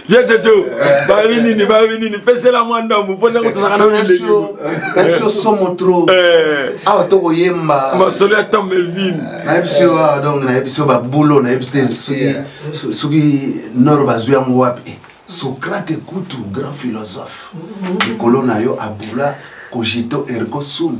ye coco babi nini babi nini pesela mwa ndambu mpo ntango tozalaka nabiso somo tro eh. awa tokoyemba masolo ya tom melvin nayebi biso awa ah, donc nayebi biso babulo nayebi te soki nor bazwi yango wapi eh, socrate kutu grand philosophe mm-hmm. likolo na yo abula cogito ergo sum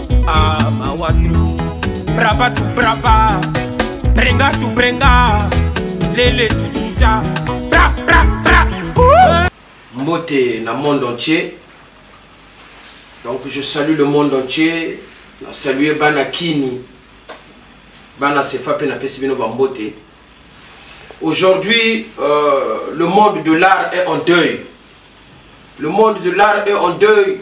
ah mawa trop braba tu braba brenga tu brenga lele tu tuta bra bra bra mbote na monde entier donc je salue le monde entier na salue bana kini bana sefa mpe napesi bino bambote Aujourd'hui, euh, le monde de l'art est en deuil. Le monde de l'art est en deuil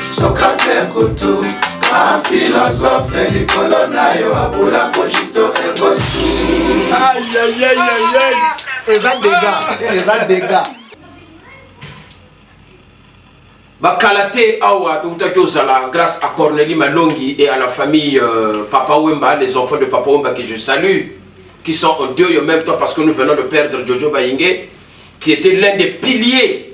sokate kutu afilosofe likolo na yo abula kojito ekosu eza dega eza dega bakala te awa tokutaki ozala grâce à cornelie malongi et à la famille euh, papa wemba les enfants de papa wemba que je salue qui sont en deuil en même temps parce que nous venons de perdre jojo bayinge qui était l'un des piliers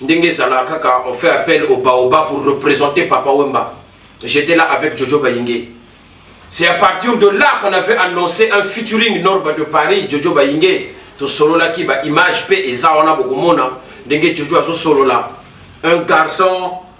ndenge ezala kaka on fait appel au baoba pour représenter papa wemba j'étais là avec jojo bayinge c'est à partir de là qu'on avait annoncé un featuring norba de paris jojo bayinge tosololaki baimage mpe eza wana bokomona ndenge jojo azosolola un garçon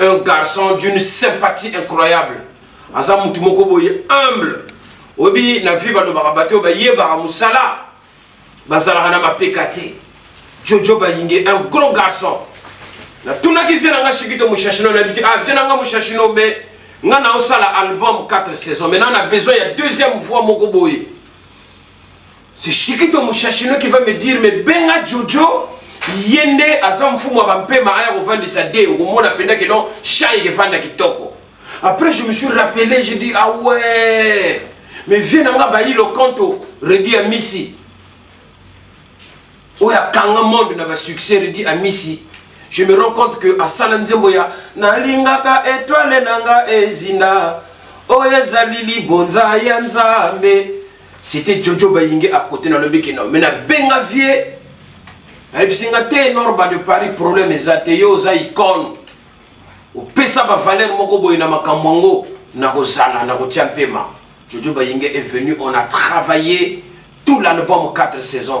un garçon d'une sympathie incroyable aza mutu moko boye humble oyebi na vie balobaka bato oyo bayebaka mosala bazalaka na mapeka te jojo bayinge un gros garçon natunaki vie na nga shikito mushashino na biti ah vie na nga mushashino me nga naosala album 4 saison maintenant na besoin ya deuxième voix moko boye C'est Chikito Mouchachino qui va me dire, mais Benga Jojo, yende aza mfumu ya bampema aya kovandisa de okomona mpenza ke non chai ekevanda kitoko après je me suis rappelé je dis ah ouais mais vie na nga bayi lokanto redi amisi oyo akanga monde na basuccès redi amisi je me rends compte que asala nzembo ya nalingaka etoile na nga ezinda oyo ezali libonza ya nzambe c'était jojo bayinge à côté na lobi kino mais na benga vieux ayebisi nga te norba de paris problème eza te yo oza icone opesa bavaleur moko boye na makambo yango nakozala nakotia mpema jojo bayinge est venu on a travaillé tout l'album 4 saisons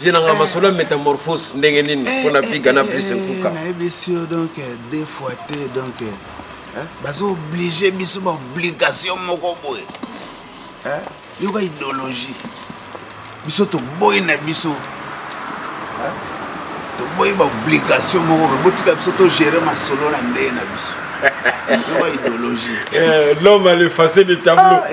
vie nanga masolo ya métamorphose ndenge nini eh, mpona eh, piga na eh, plus nkuka nayebisi yo donc deux fois te donc baza oblige biso baobligation moko boye yoka idéologie biso toboyi na biso toboyi baobligation moko boye botika biso togere masolo na ndenge na biso yoka idéologie l'homme à l'effacer de tableau ah,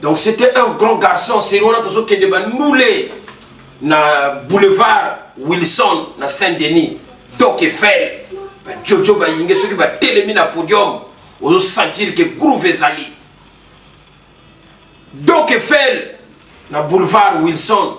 Donc c'était un grand garçon, c'est on a toujours qui débat moulé na boulevard Wilson na Saint-Denis. Donc Eiffel, ba Jojo ba yinge ceux qui va télémi na podium, on sentir que groove ezali. Donc Eiffel na boulevard Wilson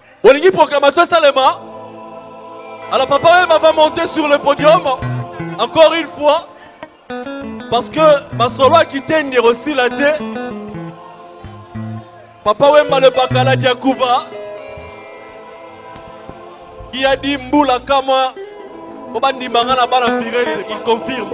Olingi proclamation esalema? Alors Papa Wemba va monter sur le podium encore une fois parce que masolo akite ndiro osila te. Papa Wemba le bakala dia Cuba qui a dit mbula kama po bandimba nga na bana virete il confirme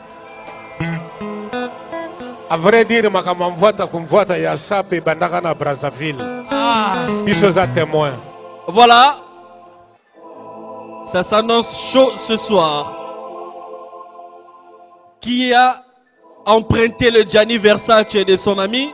a vrai dire makambo ya mvwata kumvwata ya sape ebandaka na brazzaville ah. biso eza témoin voilà ça s'annonce chaud ce soir qui a emprunté le Gianni Versace de son ami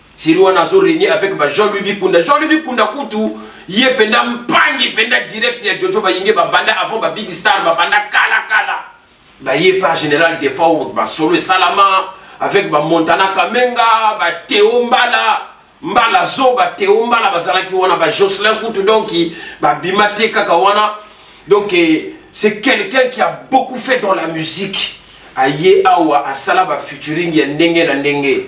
seri wana azo renie avec ba jean louis bikunda jean louis bikunda kutu ye mpenza mpangi mpenza direct ya jojo bayinge babanda avant ba big star babanda kala kala baye pa général defao basolo esalama avec ba montana kamenga ba teo mbala mbala zoba teo mbala bazalaki wana ba jocelyn kutu donc babima te kaka wana donc eh, c'est quelqu'un qui a beaucoup fait dans la musique aye awa asala ba futuring ya ndenge na ndenge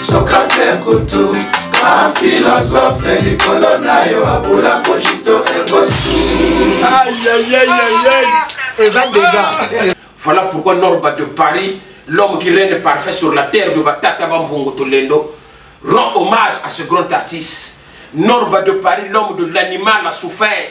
sokate kutu afilosofe likolo na yo abula kojito ekosu eza dega voilà pourquoi norba de paris l'homme qui règne parfait sur la terre de batata bambongo tolendo rend hommage à ce grand artiste norba de paris l'homme de l'animal a souffert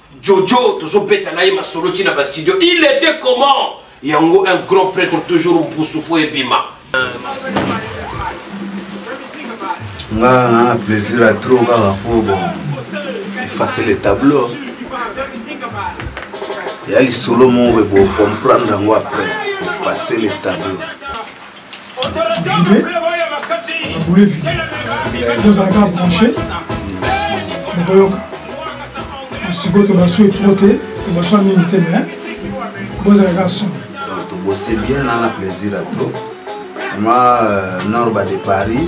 Jojo tozo beta na ye masolo ti na ba studio. Il était comment? Yango un grand prêtre toujours mpusu fo ebima. Nga na plaisir à trop kaka po bon. Effacer le tableau. Ya lisolo moko bo comprendre yango après. Effacer le tableau. boule vide tozalaka branche bokoyoka sikoyo tobasue tro te tobasua mingi te mais bozalaka son tobose bien nanga plaisir atro ma euh, norba de paris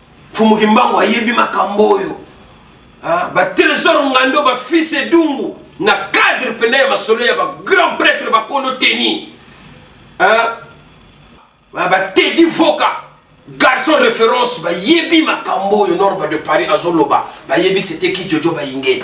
Mfumu Kimbangu ayebi makambo oyo ah, ba Tresor Ngando ba fils Edungu na cadre pena ya masolo ya ba grand prêtre ba kono teni ah, ba Teddy Voka garçon référence bayebi makambo oyo norba de Paris azoloba bayebi c'était ki Jojo Bayingeni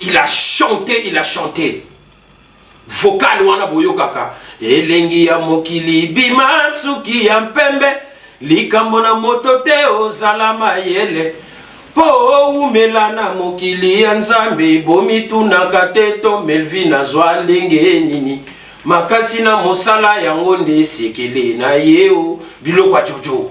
il a chanté il a chanté vocal wana boyokaka elengi ya mokili bima suki ya mpembe likambo na moto te ozala mayele mpo owumela na mokili ya nzambe bomitunaka te to melvin azwa ndenge nini makasi na mosala yango nde esekele na ye o biloko ya jojo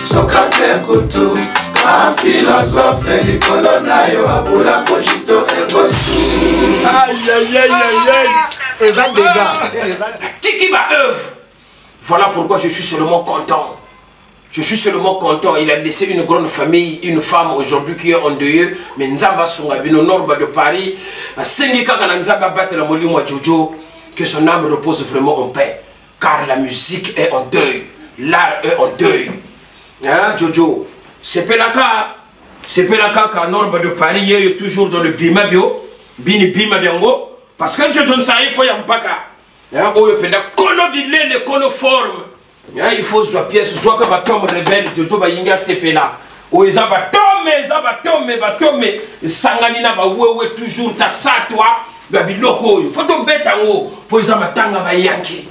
sokate kutu afilosofe likolo na yo abula kojito ekosu eza dega tiki ba œuvre voilà pourquoi je suis seulement content Je suis seulement content. Il a laissé une grande famille, une femme aujourd'hui qui est en deuil. Mais Nzamba Sungabino, Norba de Paris, Sengika Nzamba Batela Molimo Jojo, que son âme repose vraiment en paix. car la musique est en deuil l'art est en deuil hein jojo sepelaka sepelaka ka norme de paris yeyo toujours dans le bima bio bini bima biango parce que jojo nsayi fo ya mpaka hein, oyo mpenza kono bilele kono forme hein, il faut zwa pièce zwaka batombe rebelle jojo bayingi asepela oyo eza batome eza batome batome esangani na bawewe toujours tasatwa ya biloko oyo fo tobeta yango mpo eza matanga bayanke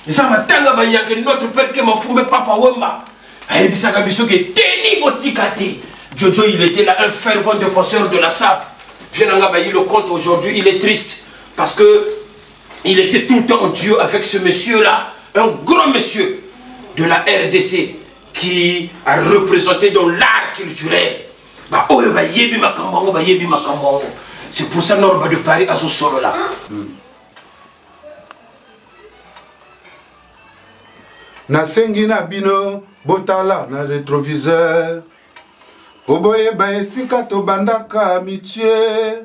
eza matanga bayanke notre père ke mafumbe papa wemba ayebisaka biso ke teni botika te jojo il était là un fervent défenseur de la sape vie na nga bayi le compte aujourd'hui il est triste parce que il était tout le temps en duo avec ce monsieur là un grand monsieur de la rdc qui a représenté dans l'art culturel baoyo bayebi makambo yango bayebi makambo yango c'est pour ça norba de paris azosolola mm. nasengi na bino botala na retroviseur mpo boyeba esika tobandaka mitie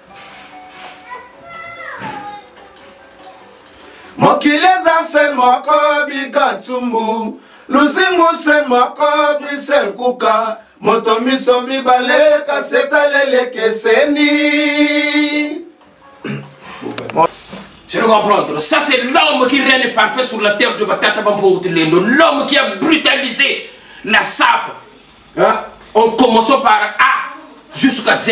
mokili eza se moko bika nsumbu lusimbu se moko brise kuka moto miso mibale kasi etalelekeseni Je le comprendre. Ça, c'est l'homme qui règne parfait sur la terre de Batata Bampongutelendo. L'homme qui a brutalisé la sable. Hein? En commençant par A jusqu'à Z.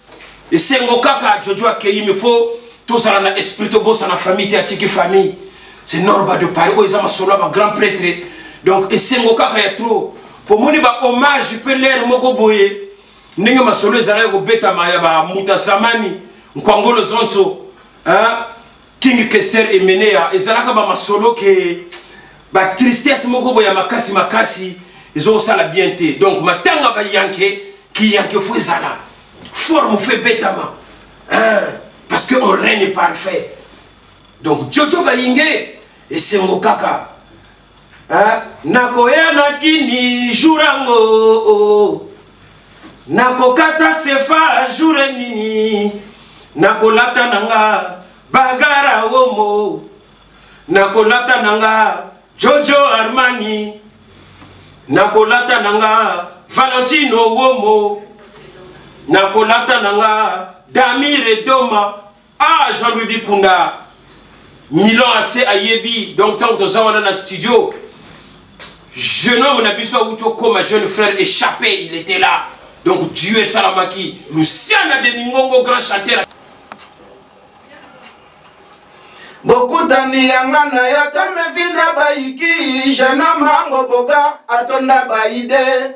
esengo kaka jojo akeyi me fo tozala na esprit tobosana famille te atiki famille c'est normal de paris oyo eza masolo ya bagrand prêtre donc esengo kaka ya trop pomoni bahommage mpe lere moko boye ndenge masolo ezalaki kobetama ya bamuta samani nkwangolo zonso hein? King Kester Emenea ezalaka ba masolo ke ba tristesse moko boya makasi makasi ezosala bien te donc matanga ba yanke ki yanke fo ezala forme fo ebetama parce que on règne parfait donc jojo bayinge esengo kaka Eh, nakoya na kini jour yango oh, oh. nakokata sefa jour nini nakolata na nga bagara womo nakolata na nga jojo armani nakolata na nga valentino womo nakolata na nga damire doma ah jean louis bikunda milan ase ayebi donc ntango toza wana na studio jeune homme na biso awuti okoma jeune frère échappé il était là donc dieu esalamaki luciana de mingongo grand chanteur bokutani yanga na yo tomevina bayiki jeune homme ango boga atonda baide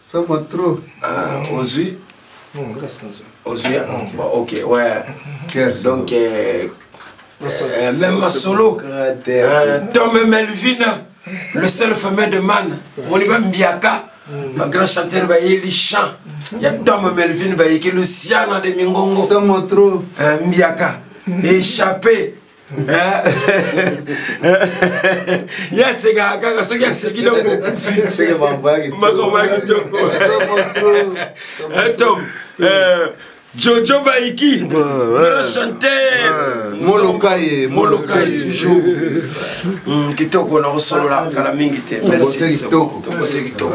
somo trop ah, ozwi hmm, ozwi ah, hmm. ok ouais donc euh, euh, même masolo euh, tom melvine le seul fameux de man moni bambiaka bagrand hmm. chanteur bayeli chant ya tom melvine bayeki luciana de mingongo mbiaka échappé ye asekaka kaka soki aseki dongokufimakambo ya kitoko tom Jojo Baiki, grand chanteur. Molokaye, Molokaye toujours. Hmm, kitoko na kosolola kala mingi te. Merci. Kitoko. Kitoko.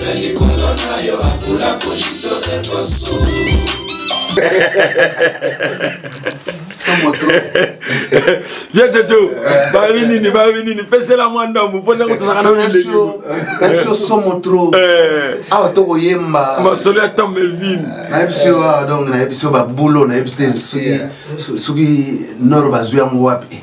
na likolo na yo akula kojito ekosu ya jojo babi nini babi nini pesela mwa ndambu mpo ntango tozalaka na biso eh. somo tro eh. awa tokoyemba masolo ya tom melvin eh, nayebi biso awa donc nayebi biso babulo nayebi te soki noro bazwi yango wapi